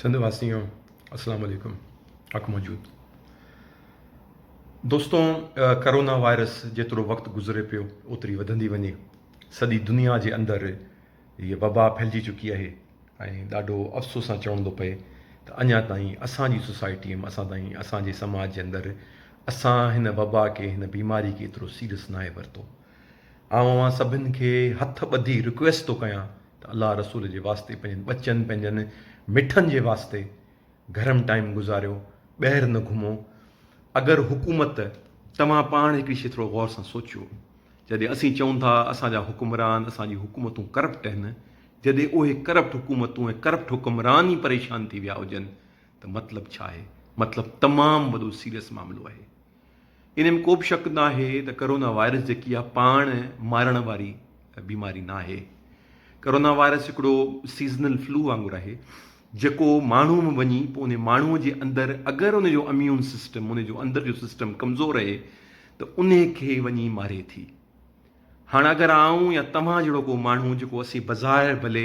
سنڌ واسيون اسلام عليڪم حق موجود دوستو ڪرونا وائرس جيترو وقت گذري پيو اوتري وڌندي وڃي سڄي دنيا جي اندر هي وبا ڦهلجي چڪي آهي ۽ ڏاڍو افسوس سان چوڻ ٿو پئي ته اڃا تائين اسان جي سوسائٽي ۾ اسان تائين اسان جي سماج جي اندر اسان هن وبا کي هن بيماري کي ايترو سيريس ناهي ورتو آئون اوهان سڀن کي هٿ ٻڌي رڪويسٽ ٿو ڪيان ته الله رسول جي واسطي پنهنجن ٻچن پنهنجن مٺن جي واسطي گهرم ٽائيم گذاريو ٻهر نه گهمو اگر حڪومت توهان پاڻ هڪڙي شي ٿورو غور سان سوچيو جڏهن اسين چئون ٿا اسان جا حڪمران اسان جي حڪومتون ڪرپٽ آهن جڏهن اهي ڪرپٽ حڪومتون ۽ ڪرپٽ حڪمران ئي پريشان ٿي ويا هجن ته مطلب ڇا آهي مطلب تمام وڏو سيريس معاملو آهي. انهيء ۾ ڪوبه شڪ ناهي ته ڪرونا وائرس جيڪي اها پاڻ مارڻ واري بيماري ناهي. ڪرونا وائرس هڪڙو سيزنل فلو وانگر آهي جيڪو ماڻهو ۾ وڃي پوء انهي ماڻهو جي اندر اگر ان جو اميون سسٽم، ان جو اندر جو سسٽم ڪمزور رهي ته انهي کي وڃي ماري ٿي. هاڻ اگر آئون يا توهان جهڙو ڪو ماڻهو جيڪو اسين بظاهر ڀلي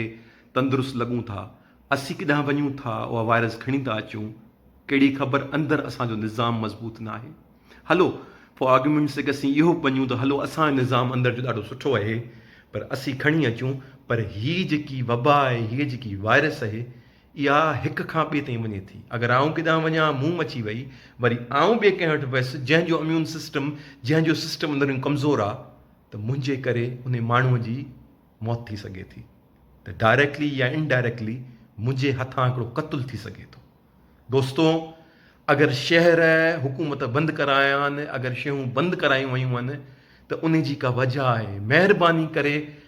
تندرست لڳون ٿا اسين ڪيڏانهن وڃون ٿا اها وائرس کڻي ٿا اچون ڪهڙي خبر اندر اسان جو نظام مضبوط ناهي هلو فار آرگيومينٽ سيڪ اسين اهو به مڃون ته هلو اسان جو نظام اندر جو ڏاڍو سٺو اهي پر اسين کڻي اچون پر هي جيڪي وبا اهي هي جيڪي وائرس اهي اها هڪ کان ٻئي تائين وڃي ٿي. اگر آئون ڪيڏانهن وڃان، مون مچي وئي، وري آئون ٻئي ڪنهن وٽ ويس، جنهن جو اميون سسٽم، جنهن جو سسٽم اندرون ڪمزور آ، ته منهنجي ڪري انهي ماڻهوء جي موت ٿي سگهي ٿي ته ڊائريڪٽلي يا ان ڊائريڪٽلي منهنجي هٿان هڪڙو قتل ٿي سگهي ٿو. دوستو! اگر شهر، حڪومت بند ڪرايان، اگر شيون بند ڪرايون ويون هن ته انهي جي ڪا وجهه آهي. مهرباني ڪري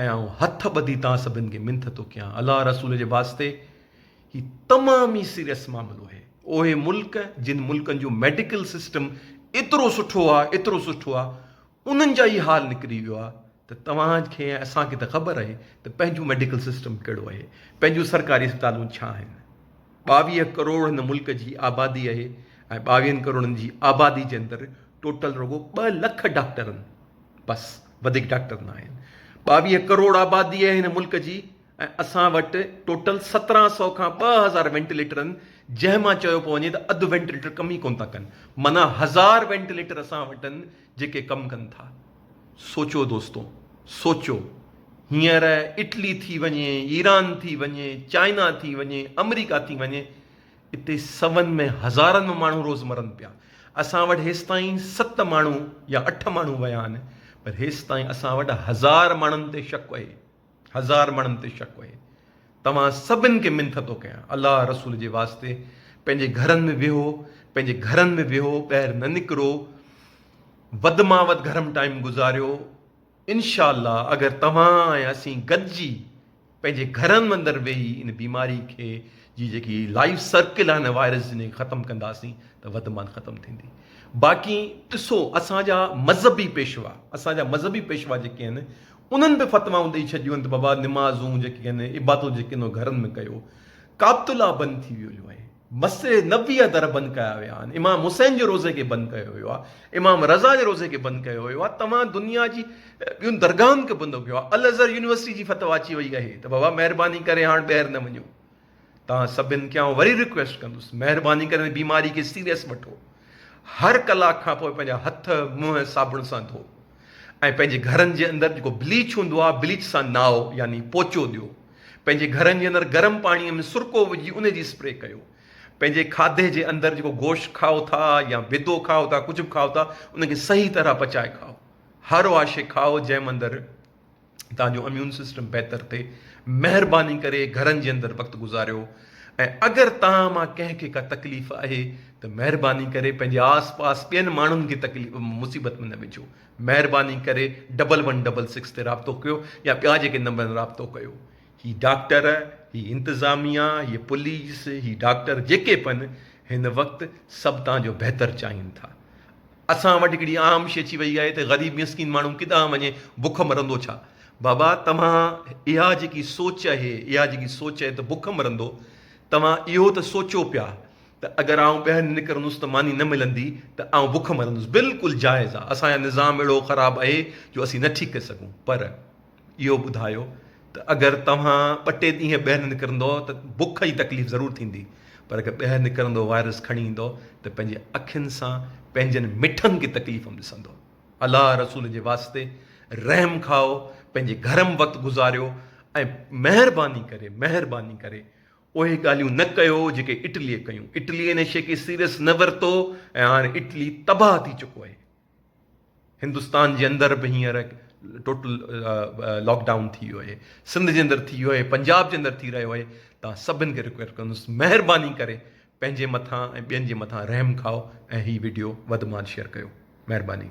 ۽ آئون هٿ ٻڌي توهان سڀن کي منٿ ٿو ڪيان الله رسول جي واسطي هي تمام ئي سيريس معاملو اهي اهي ملڪ جن ملڪن جو ميڊيڪل سسٽم ايترو سٺو آ ايترو سٺو آ انهن جا ئي حال نڪري ويو آ ته توهان کي ۽ اسان کي ته خبر اهي ته پنهنجو ميڊيڪل سسٽم ڪهڙو اهي پنهنجون سرڪاري اسپتالون ڇا آهن ٻاويهه ڪروڙ هن ملڪ جي آبادي اهي ۽ ٻاويهن ڪروڙن جي آبادي جي اندر ٽوٽل رڳو ٻه لک ڊاڪٽرن بس وڌيڪ ڊاڪٽر نه آهن. ٻاويهه ڪروڙ آبادي آهي هن ملڪ جي ۽ اسان وٽ ٽوٽل سترهن سئو کان ٻه هزار وينٽيليٽر آهن جنهن مان چيو پيو وڃي ته اڌ وينٽيليٽر ڪم ئي ڪونه ٿا ڪن معنيٰ هزار وينٽيليٽر اسان وٽ آهن جيڪي ڪم ڪن ٿا سوچو دوستو سوچو هينئر اٽلي ٿي وڃي ايران ٿي وڃي چائنا ٿي وڃي آمريڪا ٿي وڃي اتي سون ۾ هزارن ۾ ماڻهو روز مرن پيا. اسان وٽ هيستائين ست ماڻهو يا اٺ ماڻهو ويا آهن پر هيستائين اسان وٽ هزار ماڻهن تي شڪ اهي هزار ماڻهن تي شڪ اهي توهان سڀن کي منٿ ٿو ڪيان الله رسول جي واسطي پنهنجي گهرن ۾ ويهو پنهنجي گهرن ۾ ويهو ٻاهر نه نڪرو ود مان ود گهرم ٽائيم گذاريو. انشاء الله اگر توهان ۽ اسين گڏجي پنهنجي گهرن اندر ويهي ان بيماري کي جي جيڪي لائف سرڪل آهي ان وائرس جي انهيء کي ختم ڪنداسين ته وڌ مان ختم ٿيندي باقي ڏسو اسان جا مذهبي پيشوا اسان جا مذهبي پيشوا جيڪي آهن انهن به فتوائون ڏئي ڇڏيون آهن ته بابا نمازون جيڪي آهن عبادتون جيڪي آهن اهي گهرن ۾ ڪيو ڪابت الله بند ٿي ويو جو آهي مسجد نبوي جا در بند ڪيا ويا آهن، امام حسين جي روضي کي بند ڪيو ويو آهي، امام رضا جي روضي کي بند ڪيو ويو آهي، توهان دنيا جي ٻين درگاهن کي بند ڪيو آهي، الازهر يونيورسٽي جي فتويٰ اچي وئي اهي ته بابا مهرباني ڪري هاڻ ٻيهر نه وڃو، توهان سڀن کي آئون وري رڪويسٽ ڪندس مهرباني ڪري هن بيماري کي سيريس وٺو، هر ڪلاڪ کان پوء پنهنجا هٿ منهن صابڻ سان ڌوء ۽ پنهنجي گهرن جي اندر جيڪو بليچ هوندو آهي بليچ سان نهائو يعني پوچو ڏيو. پنهنجي گهرن جي اندر گرم پاڻيء ۾ سرڪو وجهي ان جي اسپري ڪيو. پنهنجي کاڌي جي اندر جيڪو گوشت کائو ٿا يا بيدو کائو ٿا ڪجهه به کائو ٿا ان کي صحيح طرح پچائي کائو. هر اها شيء کائو جنهن اندر توهان جو اميون سسٽم بهتر ٿئي. مهرباني ڪري گهرن جي اندر وقت گذاريو ۽ اگر توهان مان ڪنهن کي ڪا تڪليف آهي ته مهرباني ڪري پنهنجي آس پاس ٻين ماڻهن کي تڪليف مصيبت ۾ نه وجهو. مهرباني ڪري ڊبل ون ڊبل سڪس تي رابطو ڪيو يا ٻيا جيڪي نمبر آهن رابطو ڪيو هي ڊاڪٽر هي انتظاميا هي پوليس هي ڊاڪٽر جيڪي به آهن هن وقت سڀ توهان جو بهتر چاهين ٿا اسان وٽ هڪڙي عام شي اچي وئي آهي ته غريب مسڪين ماڻهو ڪيڏانهن وڃي بک مرندو ڇا بابا توهان اها جيڪي سوچ اهي اها جيڪي سوچ اهي ته بک مرندو توهان اهو ته سوچو پيا ته اگر آئون ٻهر نڪرندس ته ماني نه ملندي ته آئون بک مرندس بلڪل جائز آ اسان جو نظام اهڙو خراب اهي جو اسين نه ٺيڪ ڪري سگهون پر اهو ٻڌايو ته اگر توهان ٻه ٽي ڏينهن ٻهر نه نڪرندؤ ته بک جي تڪليف ضرور ٿيندي پر اگر ٻهر نڪرندؤ وائرس کڻي ايندؤ ته پنهنجي اکين سان پنهنجن مٺن کي تڪليف م ڏسندؤ الله رسول جي واسطي رحم کائو پنهنجي گهر م وقت گذاريو ۽ مهرباني ڪري مهرباني ڪري اهي ڳالهيون نه ڪيو جيڪي اٽليء ڪيون. اٽليء ان شيء کي سيريس نه ورتو ۽ هاڻ اٽلي تباهه ٿي چڪو آهي. هندستان جي اندر به هينئر ٽوٽل لاڪ ڊائون ٿي ويو آهي. سنڌ جي اندر ٿي ويو آهي، پنجاب جي اندر ٿي رهيو آهي. توهان سڀن کي رڪويسٽ ڪندس مهرباني ڪري پنهنجي مٿان ۽ ٻين جي مٿان رحم کائو ۽ هي وڊيو وڌ مان وڌ شيئر ڪيو. مهرباني.